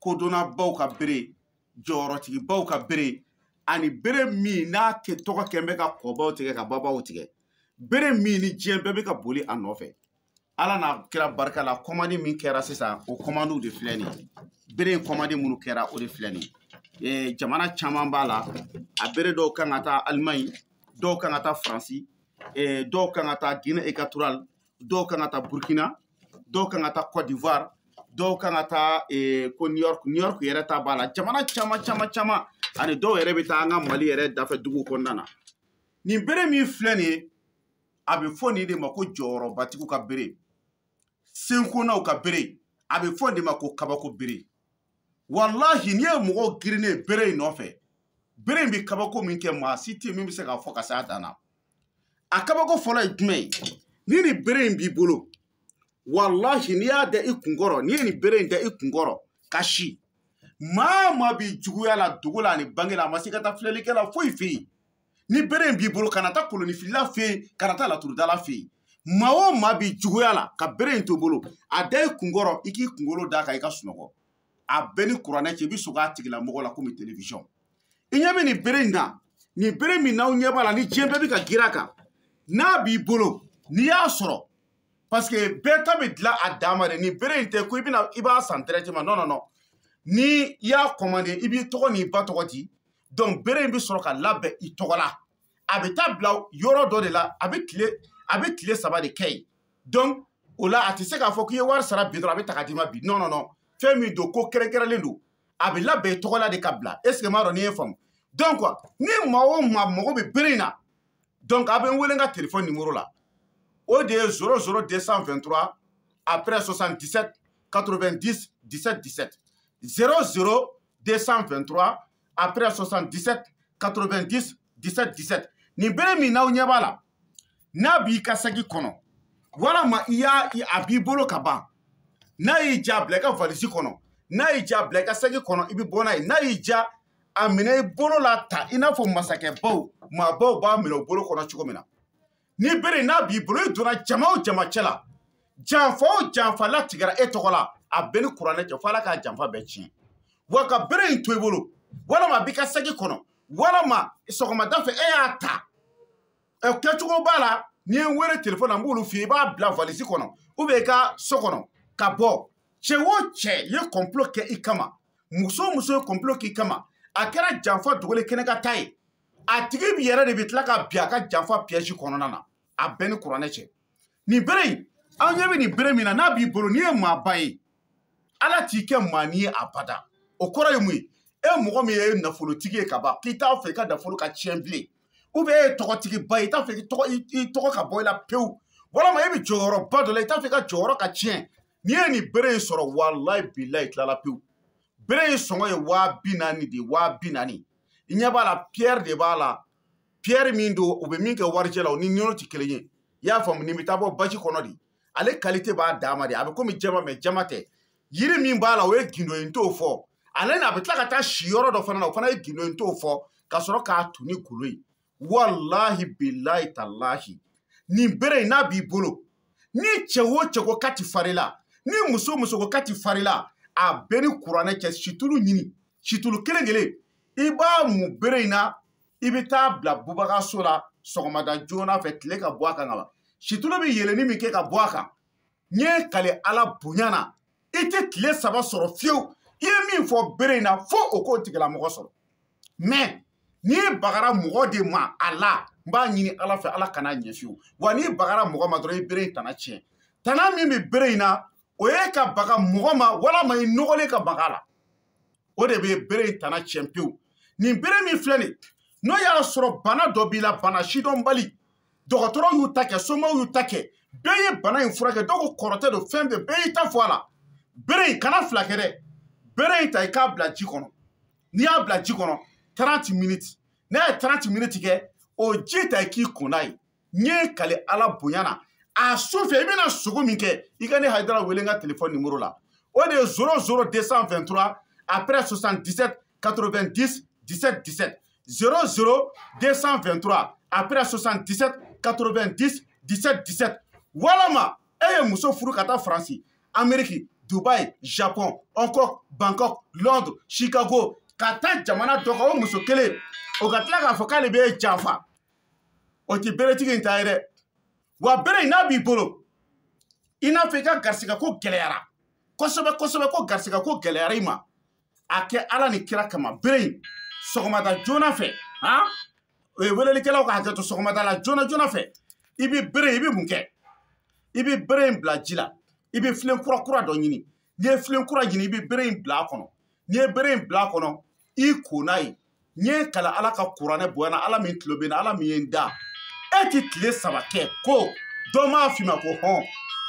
kodɔnnabaw ka bere jɔyɔrɔtigibaw ka bere ani bere min n'a kɛ tɔgɔ kɛn bɛ ka kɔbaw tigɛ ka babaw tigɛ bere min ni diɲɛ bɛɛ bɛ ka boli a nɔfɛ ala n'a kira barika la kɔmandi min kɛra sisan o kɔmandiw de filɛ nin ye bere in kɔmandi minnu kɛra o de filɛ nin ye eh, jamana caman b'a la a bere dɔw kan ka taa alimaɲi dɔw kan ka taa faransi eh, dɔw kan ka taa guinée equatorale dɔw kan ka taa burkina dɔw kan ka taa cote d'ivoire dɔw kan ka taa eh, ko new york new york yɛrɛ ta b'a la jamana caman caman caman ani dɔw yɛrɛ bɛ taa an ka mali yɛrɛ dafɛ dugu kɔnɔna na nin bere min filɛ nin ye a bɛ fɔ nin de ma ko jɔyɔrɔbatigiw ka bere senkonaw ka bere a bɛ fɔ nin de ma ko kabako bere walahi n'i ye mɔgɔw girinnen bere in nɔfɛ bere in bɛ kabako min kɛ maa si tɛ min bɛ se k'a fɔ ka se a dan na a kabako fɔlɔ ye jumɛn ye ni nin bere in b'i bolo walahi n'i y'a da i kunkɔrɔ n'i ye nin bere in da i kunkɔrɔ ka si maa o maa b'i juguya la dogo la ani bange la a ma se ka taa filɛlikɛla foyi fɛ yen ni bere in b'i bolo kana taa kolonifilila fɛ yen kana taa laturudala fɛ yen maa o maa b'i juguya la ka bere in to i bolo a da i kunkɔrɔ i k'i kunkolo d'a kan i ka sunɔgɔ a bɛ n ni kuranɛ cɛ i bɛ sugo a tigilamɔgɔ la komi television i ɲɛ bɛ nin bere in na nin bere min n'aw ɲɛ b'a la ni diɲɛ bɛɛ bɛ ka girin a kan n'a b'i bolo n'i y'a sɔrɔ parce que bɛɛ ta bɛ dilan a dama de nin bere in tɛ ko i bɛna i b'a san directement non non non ni i y'a commandé i b'i tɔgɔ n'i ba tɔgɔ di donc bere in bɛ sɔrɔ ka labɛn i tɔgɔ la a bɛ taa bila yɔrɔ dɔ de la a bɛ tile a bɛ tile saba de kɛ yen donc o la a tɛ se k'a fɔ k'i ye wari sara bi dɔrɔn a bɛ ta ka d'i ma bi non non non fɛn min don ko kɛrɛnkɛrɛnlen don a bɛ labɛn i tɔgɔ la de ka bila est ce que n m'a dɔn n'i ye n faamu donc ni maa o maa mago bɛ bere in na donc a bɛ n wele n ka telefɔni nimoro la o de ye 00 223 après 77 90 17 17 00 223 après 77 90 17 17 nin bere min n'aw ɲɛ b'a la n'a b'i ka saki kɔnɔ walama i y'a a b'i bolo ka ban n'a y'i diya a bila i ka valisi kɔnɔ n'a y'i diya a bila i ka saki kɔnɔ i bɛ bɔ n'a ye n'a y'i diya a minɛ i bolo la tan i n'a fɔ masakɛbaw maabaw b'a minɛ u bolo kɔnɔ cogo min na nin bere in n'a b'i bolo i donna jama o jama cɛ la janfa o janfa latigɛra e tɔgɔ la a bɛ n ni kuranɛ cɛ fo ala ka janfa bɛɛ tiɲɛ wa ka bere in to i bolo walama a b'i ka saki kɔnɔ walama sɔgɔmada fɛ e y'a ta ɛ kɛcogo b'a la n'i ye n wele telefɔni an b'olu f'i ye i b'a bila valisi kɔnɔ ou bien i ka so kɔnɔ ka bɔ cɛ o cɛ ye kɔnplo kɛ i kama muso o muso ye kɔnplo k'i kama a kɛra janfa dogolen kɛnɛ kan ta ye a tigi bi yɛrɛ de bi tila ka bin a ka janfa piège kɔnɔna na a bɛ n ni kuranɛ cɛ nin bere in an ɲɛ bɛ nin bere min na n'a b'i bolo n'i ye maaba ye ala t'i kɛ maanin ye abada o kɔrɔ ye mun ye e mɔgɔ min ye nafolotigi ye ka ban k'i t'a fɛ i ka nafolo ka tiɲɛ bilen ou bien e ye tɔgɔtigiba ye i t'a fɛ i tɔgɔ ka bɔ i la pewu walama e bɛ jɔyɔrɔba dɔ la i t'a fɛ i ka jɔyɔrɔ ka tiɲɛ n'i ye nin bere in sɔrɔ walayi bilayi tilala pewu bere in sɔngɔ ye waa bi naani de waa bi naani i ɲɛ b'a la piyɛri de b'a la piyɛri min don u bɛ min kɛ warijɛ la o ni ninnu tɛ kelen ye i y'a faamu nin bɛ taa bɔ baji kɔnɔ de ale kalite b'a dama de a bɛ komi jaman mɛ jaman tɛ yiri min b'a la o ye gindo ye n t'o fɔ ale na a bɛ tila ka taa si yɔrɔ dɔ fana na o fana ye gindo ye n t'o fɔ ka sɔrɔ k'a tu ni golo ye walahi bilayi talahi nin bere in n'a b'i bolo ni cɛ o cɛ ko k'a ti far'i la ni muso muso ko k'a ti far'i la a bɛ n ni kuranɛ cɛ situlu ɲini situlu kelen kelen i b'a mu bere in na i bɛ taa bila bubagaso la sɔgɔmada joona fɛ tile ka bɔ a kan ka ban situlu bɛ yeelenni min kɛ ka bɔ a kan n ye n kali ala bonya na i tɛ tile saba sɔrɔ fiyewu i ye min fɔ bere in na fo o k'o tigilamɔgɔ sɔrɔ mɛ n'i bagara mɔgɔ de ma a la n b'a ɲini ala fɛ ala kan'a ɲɛ fiyewu wa n'i bagara mɔgɔ ma dɔrɔn i bere in tana tiɲɛ tana min bɛ bere in na o ye ka baga mɔgɔ ma walama i nɔgɔlen ka mag'a la o de bɛ bere in tana tiɲɛ pewu nin bere min filɛ nin n'o y'a sɔrɔ bana dɔ b'i la bana sidɔnbali dɔgɔtɔrɔw y'u ta kɛ somaw y'u ta kɛ bɛɛ ye bana in furakɛ dɔw ko kɔrɔtɛ don fɛn bɛɛ bɛɛ y'i ta fɔ a la bere in kana fila kɛ dɛ bere in ta i k'a bila ji kɔnɔ n'i y'a bila ji kɔnɔ 30 minutes n'a ye 30 minutes kɛ o ji ta i k'i ko n'a ye n ye n kali ala bonya na a su fɛ i bɛna sugo min kɛ i ka ne hayidara wele n ka telefɔni nimoro la o de ye zoro zoro 223 après 77 90 17 17 00223 après 77 90 17 17 walama e ye muso furu ka taa faransi ameriki dubai japon hongkong bangkok londre chicago ka taa jamana dɔ kan o muso kelen o ka tila k'a fɔ k'ale b'e janfa o tɛ beretigi in ta ye dɛ wa bere in n'a b'i bolo i n'a fɔ i ka garisigɛ ko gɛlɛyara kosɛbɛ kosɛbɛ ko garisigɛ ko gɛlɛyara i ma a kɛ ala ni kira kama bere in sɔgɔmada joona fɛ han o ye welelikɛlaw ka hakɛ to sɔgɔmada la joona joona fɛ i bɛ bere i bɛ mun kɛ i bɛ bere in bila ji la i bɛ filen kura kura dɔ ɲini n'i ye filen kura ɲini i bɛ bere in bila a kɔnɔ n'i ye bere in bila a kɔnɔ i ko n'a ye n ye kala ala ka kuranɛ bonya na ala min tulo bɛ n na ala min ye n da e ti tile saba kɛ ko dɔ m'a f'i ma ko hɔn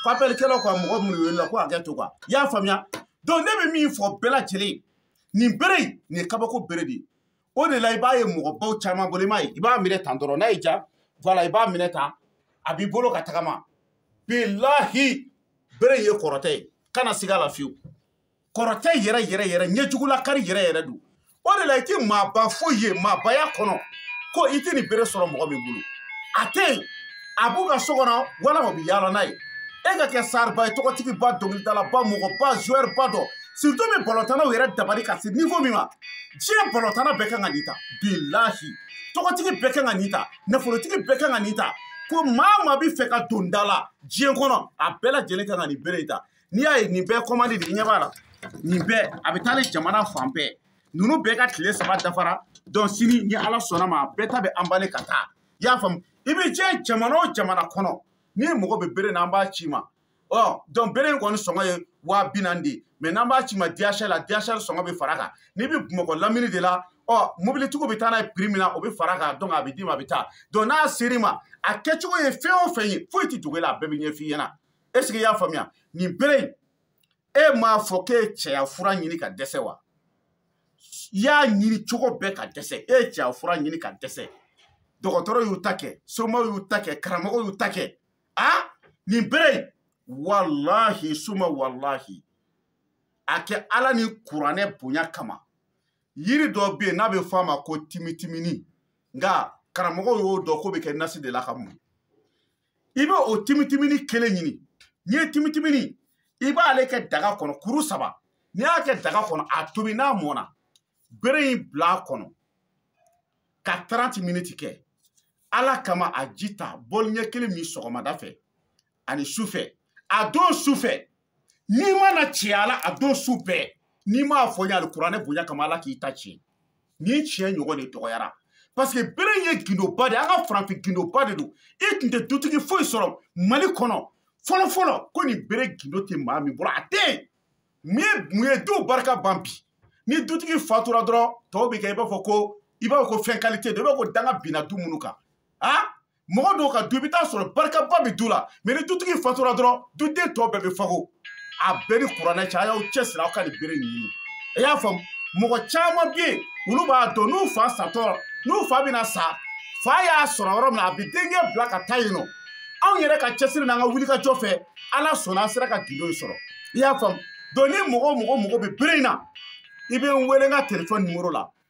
ko apɛlikɛlaw ka mɔgɔ minnu welela ko hakɛ to kan i y'a faamuya donc ne bɛ min fɔ bɛɛ lajɛlen nin bere in nin ye kabako bere de ye o de la i b'a ye mɔgɔbaw caman bolo i m'a ye i b'a minɛ tan dɔrɔn n'a y'i ja voilà i b'a minɛ tan a b'i bolo ka tagama bilahi bere in ye kɔrɔtɛ ye kana siga a la fiyewu kɔrɔtɛ yɛrɛ yɛrɛ yɛrɛ ɲɛjugulakari yɛrɛ yɛrɛ don o de la i ti maaba foyi ye maabaya kɔnɔ ko i ti nin bere sɔrɔ mɔgɔ min bolo a tɛ yen a b'u ka so kɔnɔ walama u bɛ yaala n'a ye e ka kɛ starba ye tɔgɔtigiba dɔnkilidalaba mɔgɔba zuwɛriba dɔ surtout même balɔntanaw yɛrɛ dabali ka se niveau min ma diɲɛ balɔntana bɛɛ kan ka nin ta bilahi tɔgɔtigi bɛɛ kan ka nin ta nafolotigi bɛɛ kan ka nin ta ko maa maa bɛ fɛ ka don da la diɲɛ kɔnɔ a bɛɛ lajɛlen kan ka nin bere in ta n'i y'a ye nin bɛɛ kɔmandi de i ɲɛ b'a la nin bɛɛ a bɛ taa ni jamana fan bɛɛ ninnu bɛɛ ka tile saba dafara donc sini ni ala sɔnna a ma bɛɛ ta bɛ emballer ka taa i y'a faamu i bɛ diɲɛ jamana o jamana kɔnɔ n'i mago bɛ bere na an b'a c'i ma ɔ donc bere in kɔni sɔngɔ ye waa bi naani de ye mais n'an b'a c'i ma DHL la DHL sɔngɔ bɛ fara kan n'i bɛ bamakɔ lamini de la ɔ mobilitigiw bɛ taa n'a ye prix min na o bɛ fara kan donc a bɛ d'i ma a bɛ taa donc n'a ser'i ma a kɛcogo ye fɛn o fɛn ye foyi tɛ dogo i la a bɛɛ bɛ ɲɛf'i ɲɛna est-ce que i y'a faamuya nin bere in e m'a fɔ k'e ye cɛya fura ɲini ka dɛsɛ wa i y'a ɲini cogo bɛɛ ka dɛsɛ e ye cɛya fura ɲini ka dɛsɛ dɔgɔtɔrɔw y'u ta kɛ somaw y'u ta kɛ karamɔgɔw y'u ta kɛ a nin bere in walahi suma walahi a kɛ ala ni kuranɛ bonya kama yiri dɔ bɛ yen n'a bɛ fɔ a ma ko timitimini nka karamɔgɔw y'o dɔn k'o bɛ kɛ nasi de la ka mun i bɛ o timitimini kelen ɲini n'i ye timitimini i b'ale kɛ daga kɔnɔ kuru saba n'i y'a kɛ daga kɔnɔ a tobi n'a mɔna bere in bila a kɔnɔ ka 30 miniti kɛ ala kama a ji ta bɔli ɲɛ kelen min sɔgɔmada fɛ ani sufɛ a don sufɛ n'i ma na cɛya la a don su bɛɛ n'i m'a fɔ n ye alikuranɛ bonya kama ala k'i ta tiɲɛ nin tiɲɛ ɲɔgɔn de dɔgɔyara parce que bere ye gindoba de ye an ka farafin gindoba de don i tun tɛ dutigi foyi sɔrɔ mali kɔnɔ fɔlɔfɔlɔ ko nin bere gindo tɛ maa min bolo a tɛ yen mun ye mun ye duw barika ban bi ni dutigi fatura dɔrɔn tɔw bɛ kɛ i b'a fɔ ko i b'a fɔ ko fɛn qualité dɔ i b'a fɔ ko danga binna du minnu kan a mɔgɔ dɔw ka du i bɛ taa sɔrɔ barikaba bɛ du la mais ni dutigi fatura dɔrɔn duden tɔ bɛɛ bɛ fago a bɛ n ni kuranɛ cɛ a y'aw cɛsiri aw ka nin bere nin ɲini i y'a faamu mɔgɔ caman bɛ yen olu b'a dɔn n'u fa satɔ n'u fa bɛna sa fa y'a sɔrɔ yɔrɔ min na a bɛ denkɛ bila ka taa yen nɔ anw yɛrɛ ka cɛsiri n'an ka wulikajɔ fɛ ala sɔnna an sera ka gindo in sɔrɔ i y'a faamu donc ni mɔgɔ o mɔgɔ mago bɛ bere in na i bɛ n wele n ka telefɔni nimoro la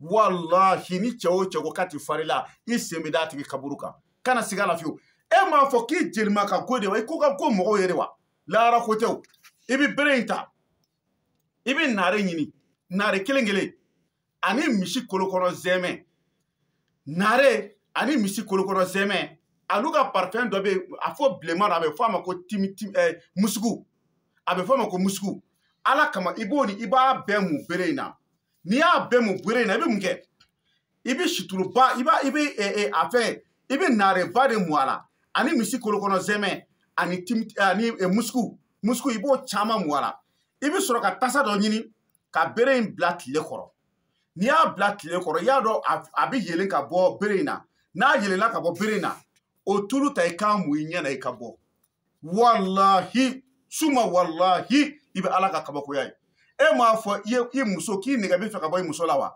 walahi ni cɛ o cɛ ko k'a ti fari la i sen bɛ d'a tigi kaburu kan kana siga la fiyewu e m'a fɔ k'i jelima ka go de wa i ko ka go mɔgɔw ye de wa lahara ko tɛ o i bɛ bere in ta i bɛ naare ɲini naare kelen kelen ani misi kolokɔnɔ zɛmɛ naare ani misi kolokɔnɔ zɛmɛ alu ka parfum dɔ bɛ yen a fɔ bilenman a bɛ fɔ a ma ko timi timi ɛɛ eh, musuku a bɛ fɔ a ma ko musuku ala kama i b'o ni i b'a bɛɛ mun bere in na n'i y'a bɛɛ mun bere in na i bɛ mun kɛ i bɛ situluba i b'a i bɛ ɛ ɛ a fɛn i bɛ naareba de mun a la ani misi kolokɔnɔ zɛmɛ ani tim ani ɛ musuku musuku i b'o caman mun a la i bɛ sɔrɔ ka tasa dɔ ɲini ka bere in bila tile kɔrɔ n'i y'a bila tile kɔrɔ i y'a dɔn a bɛ yelen ka bɔ bere in na n'a yelenna ka bɔ bere in na o tulu ta i k'a mun i ɲɛ na i ka bɔ walahi suma walahi i bɛ ala ka kabakoya ye e m'a fɔ i muso k'i nɛgɛ bɛ fɛ ka bɔ i muso la wa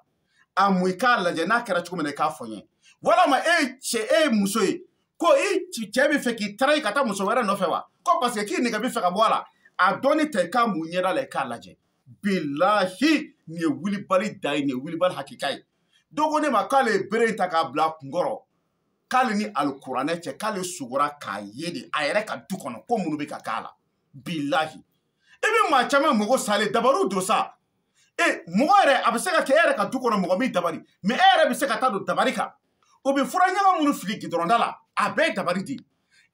a mun i k'a lajɛ n'a kɛra cogo min na i k'a fɔ n ye walama e ye cɛ e ye muso ye ko i cɛ bɛ fɛ k'i trahir ka taa muso wɛrɛ nɔfɛ wa ko parce que k'i nɛgɛ bɛ fɛ ka bɔ a la a dɔɔnin ta i k'a mun ɲɛda la i k'a lajɛ bilahi nin ye wulibali dan ye nin ye wulibali hakika ye dɔ ko ne ma k'ale ye bere in ta k'a bila a kunkɔrɔ k'ale ni alikuranɛ cɛ k'ale sugora k'a ye de a yɛrɛ ka du kɔnɔ ko minnu bɛ ka k'a la bilahi i bɛ maa caman mago salen dabariw don sa e mɔgɔ yɛrɛ a bɛ se ka kɛ e yɛrɛ ka du kɔnɔ mɔgɔ m'i dabari mais e yɛrɛ bɛ se ka taa don dabari kan o bɛ fura ɲaga minnu fili gidɔrɔnda la a bɛɛ ye dabari di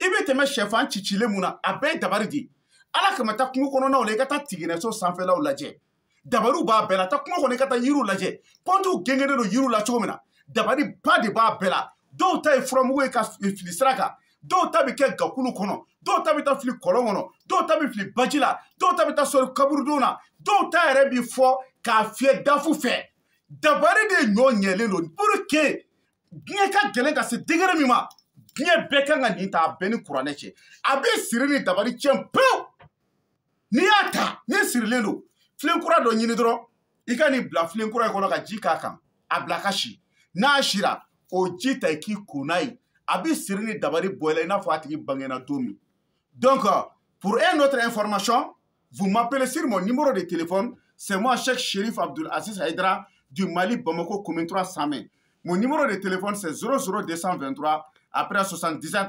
i bɛ tɛmɛ sɛfan cicilen mun na a bɛɛ ye dabari di ala kama taa kungo kɔnɔnaw la i ka taa tiginɛso sanfɛlaw lajɛ dabariw b'a bɛɛ la taa kungo kɔnɔ i ka taa yiriw lajɛ pɔntiw gengenen don yiriw la cogo min na dabari ba de b'a bɛɛ la dɔw ta ye furamugu ye ka fili sira kan dɔw ta bɛ kɛ gakulu kɔnɔ dɔw ta bɛ taa fili kɔlɔn kɔnɔ dɔw ta bɛ fili baji la dɔw ta bɛ taa sɔri kaburudon na dɔw ta yɛrɛ bɛ fɔ k'a fiyɛ dafu fɛ dabari de ɲɔ ɲɛlen don pour que diɲɛ ka gɛlɛn ka se degré min ma diɲɛ bɛɛ kan ka nin ta a bɛ n ni kuranɛ cɛ a bɛ siri ni dabari tiɲɛ pewu n'i y'a ta n'i sirilen don filen kura dɔ ɲini dɔrɔn i ka nin bila filen kura in kɔnɔ ka ji k'a kan a bila ka si n'a sira o ji ta i k'i ko n'a ye a bɛ siri ni dabari bɔ i la i n'a fɔ a tigi bangena don min donc pour une autre information vous m'appelez sur mon numéro de téléphone c'est moi Cheikh Chérif Abdoul Aziz Haïdara du Mali Bamako commune 3 Samé mon numéro de téléphone c'est 00223 après 77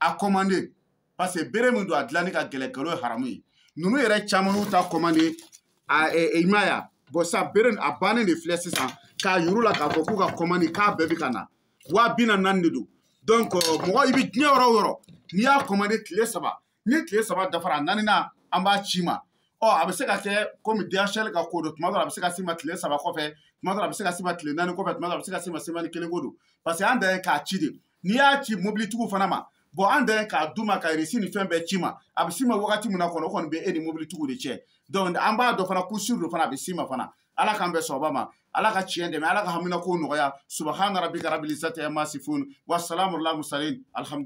a commandé parce que bere min don a dilanni ka gɛlɛn nkalon ye haramu ye ninnu yɛrɛ caman y'u ta commandé a i ma ya bɔn sisan bere a bannen de filɛ sisan k'a yir'u la k'a fɔ k'u ka commandé k'a bɛɛ bɛ ka na waa bi naani naani de don donc mɔgɔ i bɛ diɲɛ yɔrɔ o yɔrɔ n'i y'a commandé tile saba ni tile saba dafara a naaninan an b'a c'i ma ɔ a bɛ se ka kɛ komi DHL ka ko don tuma dɔ la a bɛ se ka s'i ma tile saba kɔfɛ tuma dɔ la a bɛ se ka s'i ma tile naani kɔfɛ tuma dɔ la a bɛ se ka s'i ma semɛni kelen ko don parce que an dan ye k'a ci de n'i y'a ci mobilitigiw fana ma bɔn an dan ye k'a d'u ma ka resi ni fɛn bɛɛ c'i ma a bɛ s'i ma wagati min na kɔnɔ o kɔni bɛ e ni mobilitigiw de cɛ donc an b'a dɔn fana ko sûr don fana a bɛ s'i ma fana ala k'an bɛɛ sɔnba ma ala ka tiɲɛ dɛmɛ ala ka haminako nɔgɔya subahana rabika rabil izati ama yasifun wasalamu alal mursalin alhamdu